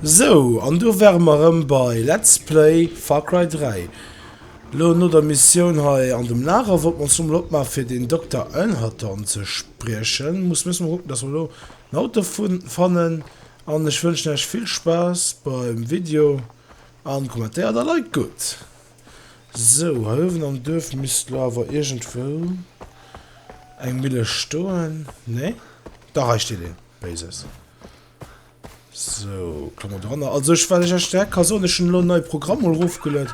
Sou, an do ware mer erëm bei Let's Play Far Cry 3. Elo no der Missioun hei an dem Lager wollte mer ons elo mol opmaachen, fir den Dokter Elhatarn ze spriechen. Muss müssen mer kucken, dass mer elo en Auto fannen. An ech wënschen iech vill Spaass beim Video an kommentéiert a liked gutt. Sou, hei uewen am Duerf misst lo awer iergendwou eng Mille stoen, nee? Dach, hei steet een Béises. Sou, klammen mer doranner. Also ech, wat ech iech direkt ka soen, ech hunn elo en neie Programm mol erofgeluet.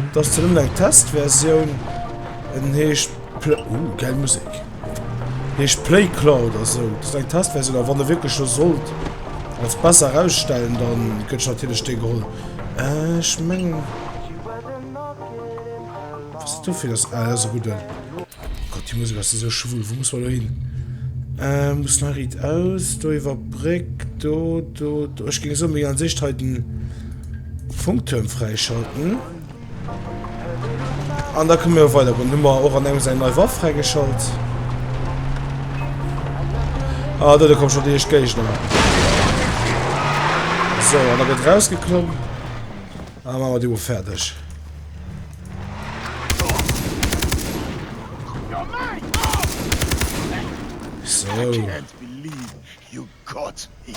Et ass zwar nëmmen eng Testversioun, en heescht Pl-, uh, gäil Musek, heescht Playclaw oder sou. Dat ass eng Testversioun, a wann e wierklech lo sollt als besser erausstellen, da gëtt natierlech dee geholl. Ech mengen was ist dofir dass ah, das gute oh Gott die Musik ass esou schwul wo muss man lo hin äh, muss nach riet aus do iwwer Bréck do do do ech ging so méi an sich heiten Funkturm freischalten. An da kënne mir weider goen. Hu mer och an engem seng nei Waff fräigeschalt. Ah, do, da kommen schon déi éischt Géigner. So, an da gëtt rausgeklomm. Ah, machen wir die Uhr fertig. So. Kotz hin!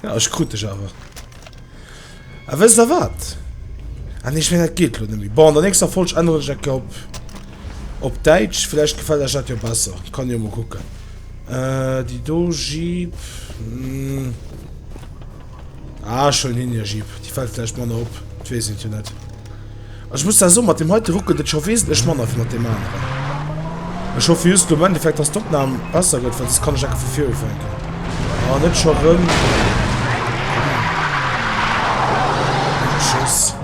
Ja, ech krut dech awer. A wësst der wat? Ah nee, ech mengen dat geet elo net méi. Bon, an der nächster Folg änneren ech dat gär op op Däitsch. Vläicht gefält iech dat jo besser. Kann jo mol kucken. Äh, déi do Jeep. Ah, ech huelen hien, ja Jeep. Déi fällt vläicht manner op, dat weess een jo net. Also ech muss da soen, mat deem heite ruckelt et scho wesentlech manner wéi mat deem aneren. Ech hoffe just lo am Endeffekt, dass d'Opnam besser gëtt, well soss kann ech enke vu vir ufänken. Ah, net scho rëm. Tschüss.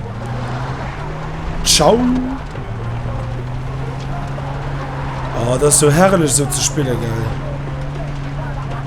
Ciao. Ah, dat ass sou herrlech, sou ze spille, gell.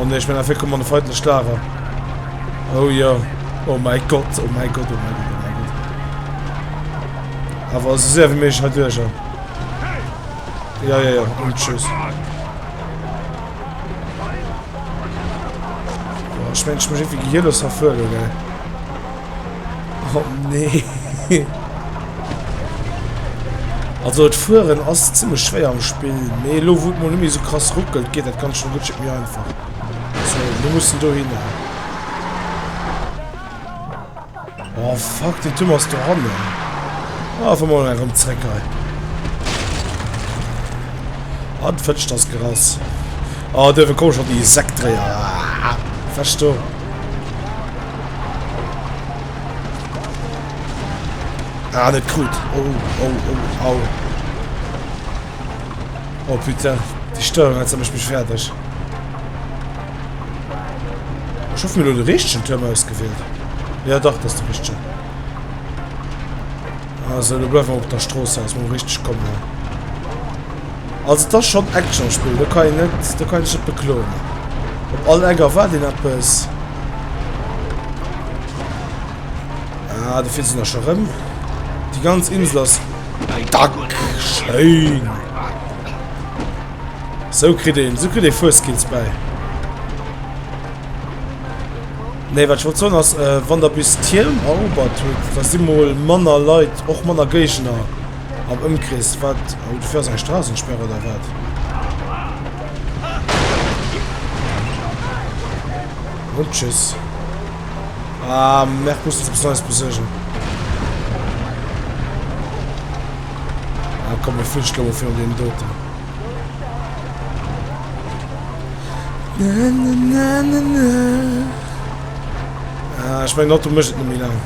Oh ne, ich bin einfach gekommen an den feindlichen Lager. Oh ja. Oh mein Gott, oh mein Gott, oh mein Gott, oh mein Gott. Aber so sehr wie möglich halt durch. Ja, ja, ja. Und tschüss. Oh, ich meine, ich muss irgendwie hier los erfüllen, gell. Oh nee. Also et fuhren ass ziemlich schwer am Spiel. Nee, lo wo man mir so krass ruckelt, geht dat ganz schon gut mir einfach. So, wir müssen do hin. Oh fuck, den Tim hast du ran. Ah, von mal herum zurück. Ah, du fetzt das Gras. Ah, der kommt schon die Sektdreher. Ah, verstehe. Ah, net krut. Oh, oh, oh, au. Oh, putain. Die Steuerung hat mich fertig. Ich hoffe, mir nur den richtigen Turm ausgewählt. Ja, doch, das ist der richtige. Also do gouf och der Strooss aus mol richteg kommen. Also et ass schon Action Spill, do kann een net, do kann een sech net bekloen. Op all Eck erwaart een eppes. Ah, do fiert se nach schon rëm. Déi ganz Insel ass... Dack! Schéin! So kritt een, so kritt ee Fueskills bäi. Nee, wat ech wollt soen ass, wann der bis Tierm erobert hutt, da si mol manner Leit, och manner Géigner am Ëmkrees. Wat, oh, dofir ass eng Strassensperr oder wat? Und tschüss. Ah, Merc muss eppes Neues besuergen. Ah, komm, mir fliege lo fir den Doten. Ah, ech meng Auto mécht et net méi laang.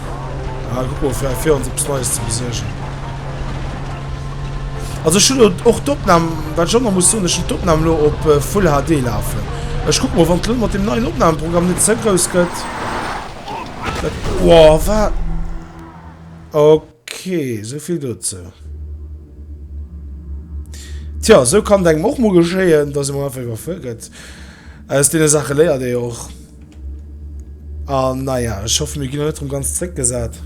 Ah, guck mal, fir, fir ons eppes Neies ze besuergen. Also ech hunn och d'Opnam, wat ech och nach muss soen, ech hunn d'Opnam lo op äh, Full HD lafen. Ech guck mal, wann lo mat dem neien Opnahmeprogramm net ze grouss gëtt. Dat, wow, wat? Okay. Ok, esou vill dozou. Tja, esou kann et engem och mol geschéien, dass ee mol einfach iwwerfuer gëtt. Aus deene Saache léiert ee jo och. An naja, ech hoffe mir ginn elo net erëm ganz zréckgesat.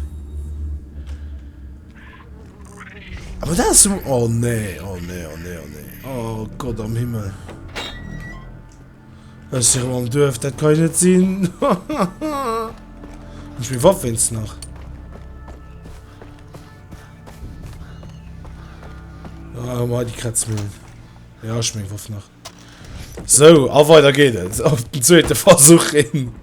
Awer dat ass jo. Oh nee, oh nee, oh nee, oh nee. Oh Gott am Himmel. Ech si rem am Duerf, dat kann jo net sinn! Hunn ech meng Waff wéinst nach? Ah, mei déi Kretzmillen. Ja, ech meng Waff nach. So, a weider geet et. Op den zweete Versuch hin.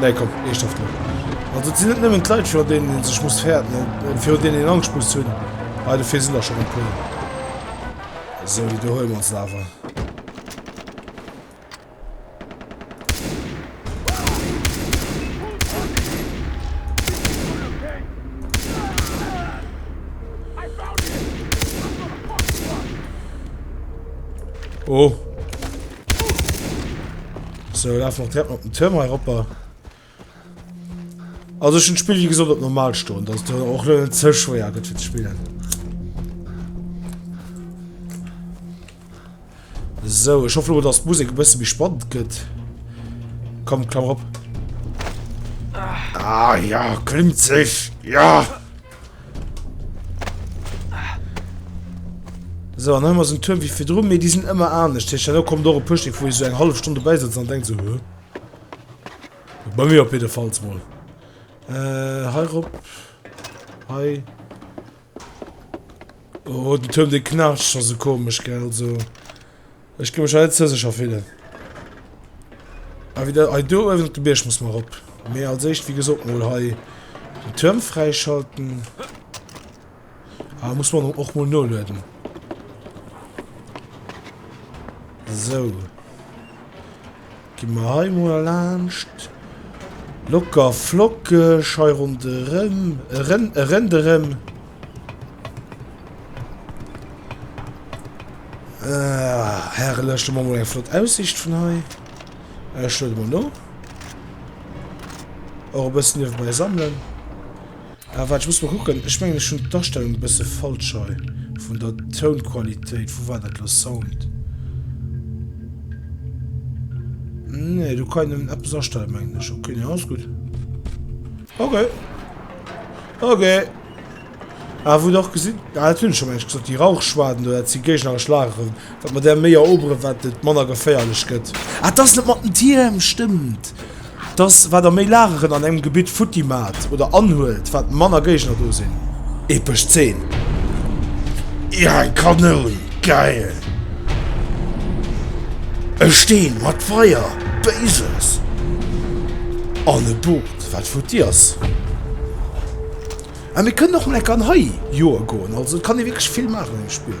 Nee komm, eeschthaft net. Also et sinn net nëmmen d'Leit virun deenen ee sech muss fäerten, virun deenen een Angscht muss hunn, hei dofir sinn der schonn e puer. Esou déi do huele mer se awer. Oh. So, lauf auch direkt mal den Türm hier runter. Also schon Spiel wie gesagt op normal stoen, dass du auch net ze schwéier gëtt fir ze spielen. So, ich hoffe dass Musik bësse wie spannend gëtt. Komm klammer op. Ah ja, klimmt sech. Ja. So, an dann haben wir so einen Turm wie für drum, die sind immer anders. Das heißt, da kommt auch ein Push, wo ich so eine halbe Stunde dabei sitze und denke so, Hö? Bei mir auf jeden Fall mal. Äh, hi Rob. Hi. Oh, den Turm, den knarzt schon so komisch, gell, so. Ech ginn mech hei net ze sécher fillen. Awer wieder hei do uewen op de Bierg muss mer erop. Mee als éischt, wéi gesot, mol hei den Tuerm fräischalten. Awer muss man och mol nolueden. Sou. Gi mer hei mol laanscht. Locker flockeg hei ronderëm, erëm, erenderëm. Ah, herrlech, do man mol eng flott Aussicht vun hei. Ech luede mol no. Och e bëssen niewebäi sammelen. Ah waart ech muss mol kucken, ech mengen ech hun d'Astellung e bësse falsch hei vun der Tounqualitéit, wou war dat lo, Sound? Nee do kann een nëmmen eppes astellen mengen ech, ok nee alles gutt, ok ok. Ah wou der och gesitt, ah dat hun ech jo mengen ech gesot, déi Rauchschwaden do dat si géigneresch Lageren, Wat mer där méi eroberen, wat et manner geféierlech gëtt. Ah, t'ass net mat den Tierm, stëmmt! T'ass, wat der méi Lageren an engem Gebitt futti maacht oder anhuelt, wat manner Géigner do sinn. Epesch Zeen! Ier eng Kanoun! Geil! E Steen mat Feier! Béises! An e Boot, wat futti ass. Ah, mir kënnen och mol eng Kann hei joe goen. Also, et kann ee wierklech vill maachen an deem Spill.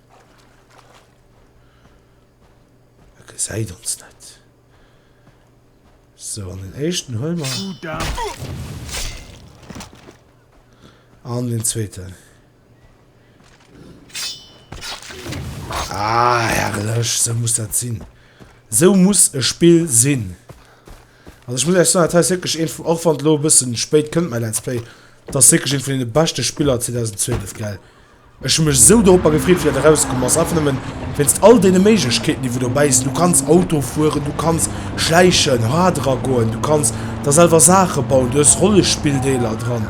E gesäit ons net. So an den éischten huel mer. An den zweeten. Ah, herrlech, so muss dat sinn. So muss e Spill sinn. Also ich muss echt sagen, das ist wirklich ein, auch wenn lo ein bisschen spät kommt mein Let's Play, das ist wirklich ein von den besten Spieler 2012, gell. Ech hu mech esou doropper gefreet, wéi dat erauskomm ass, einfach nëmmen wéinst all deene Méiglechkeeten, déi wou dobäi sinn. Du kanns Auto fueren, du kanns schläichen, ha dra goen, du kanns der selwer Saache bauen, du hues Rollespilldeeler dran.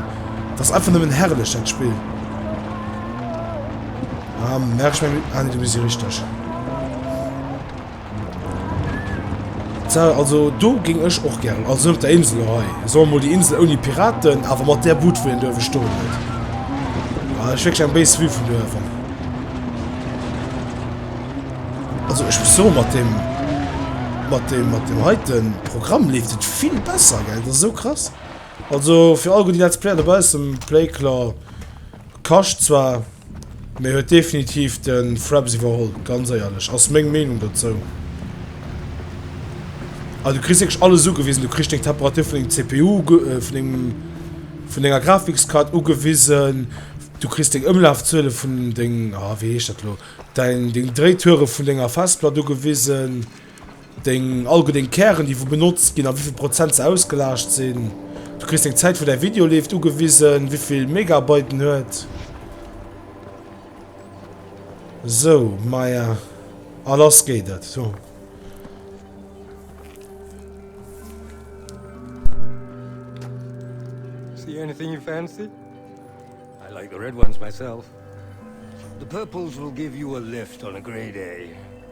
Dat ass einfach nëmmen herrlech, dat Spill. Ah, merkt ech mäin, ah nee, do bis ech richteg. Tja, also do géing ech och gären, also sou op der Insel hei, soen wir mol déi Insel ouni Piraten, awer mat där Bud wou hien do uewe stoen huet. Ah, dat ass wierklech eng béis Vue vun do uewen. Also ech muss soen, mat dem, mat dem, mat dem heiten Programm leeft et vill besser, gell, dat ass sou krass. Also fir all gutt Let's Player dobaussen, Play Claw. Kascht zwar, mee huet definitiv de Fraps iwwerholl, ganz éierlech, ass meng Meenung dozou. A du kriss wierklech alles ugewisen, du kriss deng Temperatur vun dengem CPU uge äh, vun dengem vun denger Grafikskaart ugewisen, du kriss deng Ëmlafzuele vun deng, ah wéi heescht dat elo, däin deng Dréiture vun denger Festplatt ugewisen. Deng all gutt deng Kären déi wou benotzt ginn a wéivill Prozent se ausgelaascht sinn. Du kriss deng Zäit wou däi Video leeft ugewisen, wéivill Megabyte en huet. Sou, maja a lass geet et. Huh. See anything you fancy? I like the red ones myself. The purples will give you a lift on a grey day.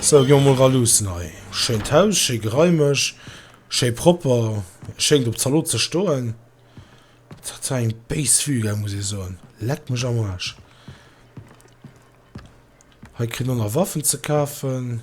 Sou ginn mer mol eran, luussen hei. Schéint Haus, schéi geraimeg, schéi propper. Schéngt op Zalot ze stoen. Dat war eng béis Vue gell, muss ee soen. Leck mech am Aarsch. Hei kritt een och nach Waffen ze kafen.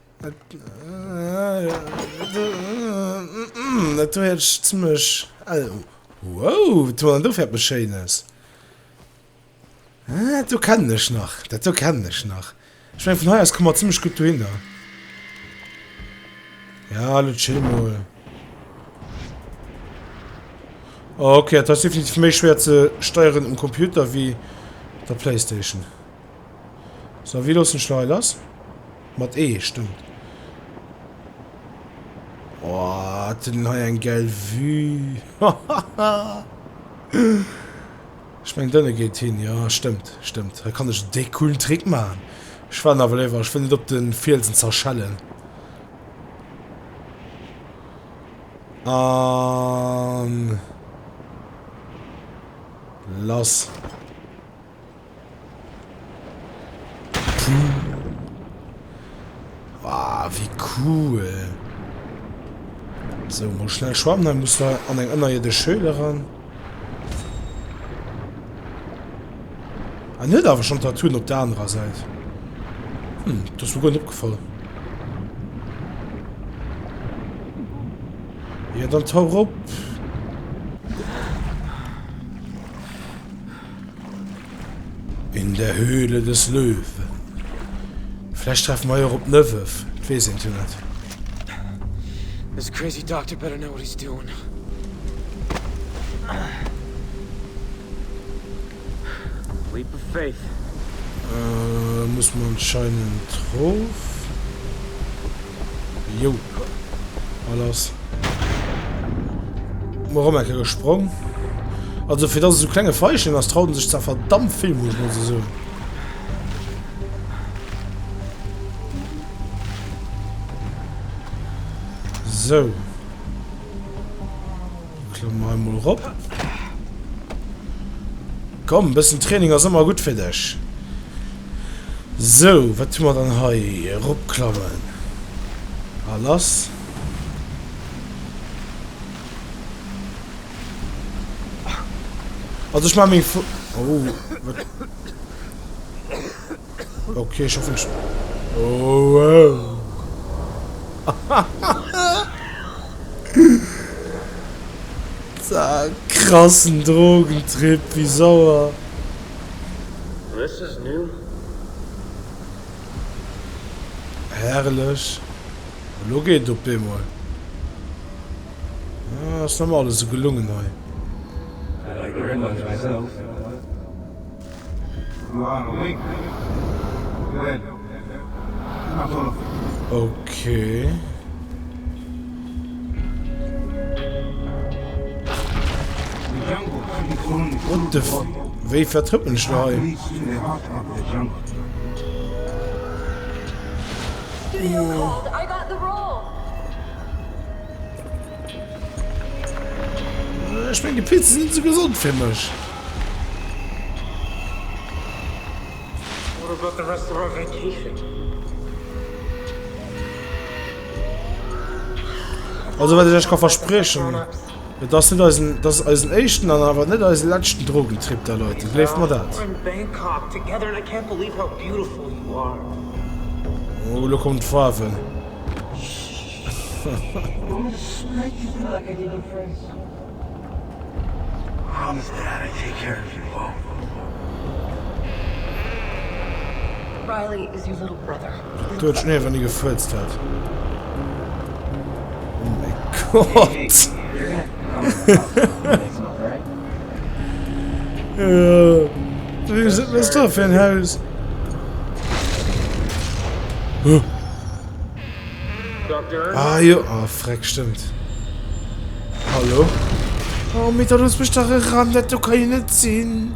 Dat do hätt ech zimlech el. Wouw, wat huet en do fir eppes Schéines? Ah, dat do kennen ech nach. Dat do kennen ech nach. Ech mengen, vun hei aus komme mer zimlech gutt dohinner. Ja, lo chill mol. Oh, okay, dat ass definitiv méi schwer ze steieren um Computer wie der Playstation. So wie lossen Schlei lass mat E eh, stimmt. Oh, den ha eng geil vue Ich mein dënne geht hin ja stimmt stimmt da kann ich de coolen Trick man. Ech war nawel iwwer ich will net op den Fielsen zerschellen. An lass. Ah, wie cool. So, mol schnell schwammen, dann muss da an eng ënnerierdesch Höhle ran. En huet awer schonn Tattooen op der anerer Säit. Hm, dat ass mir guer net opgefall. Jo, dann tauch op. In der Höhle des Löwen. Vläch treffe mer jo och op d'Möwef, et weess eent jo net. This crazy doctor better know what he's doing. Leap of faith. Ëh, muss mer anscheinend rof. Jo, ha lass. Mor om Ecke gesprong. Also fir dass e so klenge Veischen ass, traut en sech zwar verdammt vill, muss ech mol esou soen. So. Klammen wir einmal rob. Komm, ein bisschen Training ist immer gut für dich. So, was tun wir dann hier? Robklammen. Alles. Also ich mach mir vor. Oh, was? Okay, ich hoffe nicht. Oh, wow. Zack, krassen Drogentrip, wie sauer. This is new. Herrlich. Elo geet et op eemol. Ah, ass nemmen alles esou gelungen hei. Okay. What the f... Wéi vertrëppelen ech lo hei? Ech meng de Pilze sinn ze gesond fir mech. Also wat ech iech ka verspriechen. Et ass net eisen, et ass eisen éischten an awer net eisen leschten Drogentrip da Leit, gleeft mer dat. Oh, lo kommen d'Faarwen. Do huet Schnee awer ni gefuerzt hat. Oh mäi Gott! Wat ass dat fir en Haus? Ah jo, oh freck, stëmmt. Hallo? Oh, mee dat ass bestach e Ran, dat do ka jo net sinn.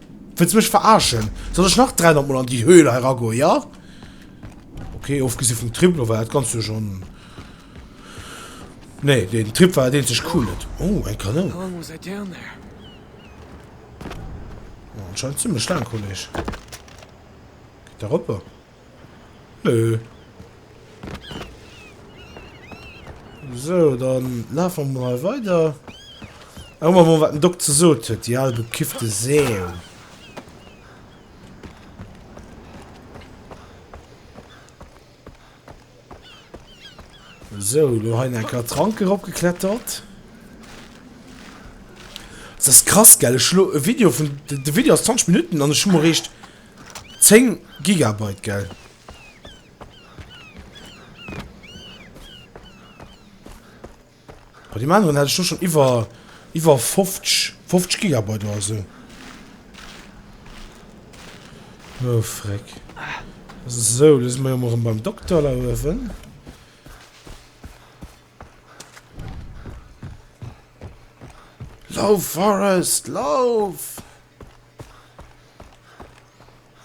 Wëlls mech verarschen? Soll ech nach 300 mol an déi Höhle hei ragoen, ja? Ok, ofgesi vum Trip lo war dat ganzt jo schon... Nee, den Trip war dat eenzeg Coolet. Oh, eng Kanoun. Anscheinend zimlech laang, Kolleg. Geet da roper. Nö. Sou, dann lafe mer mal weider. Hu mer mol wat den Doc ze sot huet, déi al bekiffte Säu. So, lo hein en Kaer Trank erop geklettert. Das krass gell, ech lo e Video vun de Video ass 20 Minuten an ech hu mer réischt 10 Gigabyte gell? Bei dem aneren hat ech do schon iwwer iwwer 50 50 Gigabyte oder sou. Oh freck. Sou, lo si mer jo mol rem beim Dokter la uewen. Lauf Forest, lauf!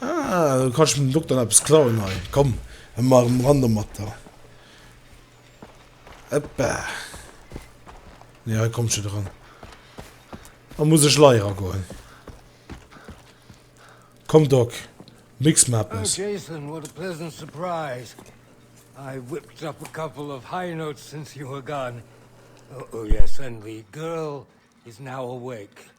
Ah, do kann ech dem Dokter nach eppes klauen hei. Komm, ech maachen emol ran domat do. Hoppa. Nee, hei kommt ech net eran. Da muss ech leier eragoen. Komm Doc, mix mer eppes. Oh Jason, what a pleasant surprise. I whipped up a couple of high notes since you were gone. Oh yes, and the girl is now awake.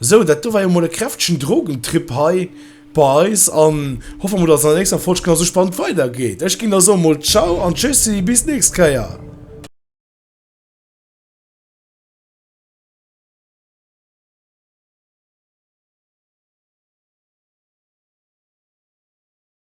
Sou, dat do war jo mol e kräftegen Drogentrip hei bei eis an hoffe mol, dass et an der nächster Folg genau sou spannend weider geet. Ech ginn da soe mol Ciao an Tschüssi, bis d'nächst Kéier!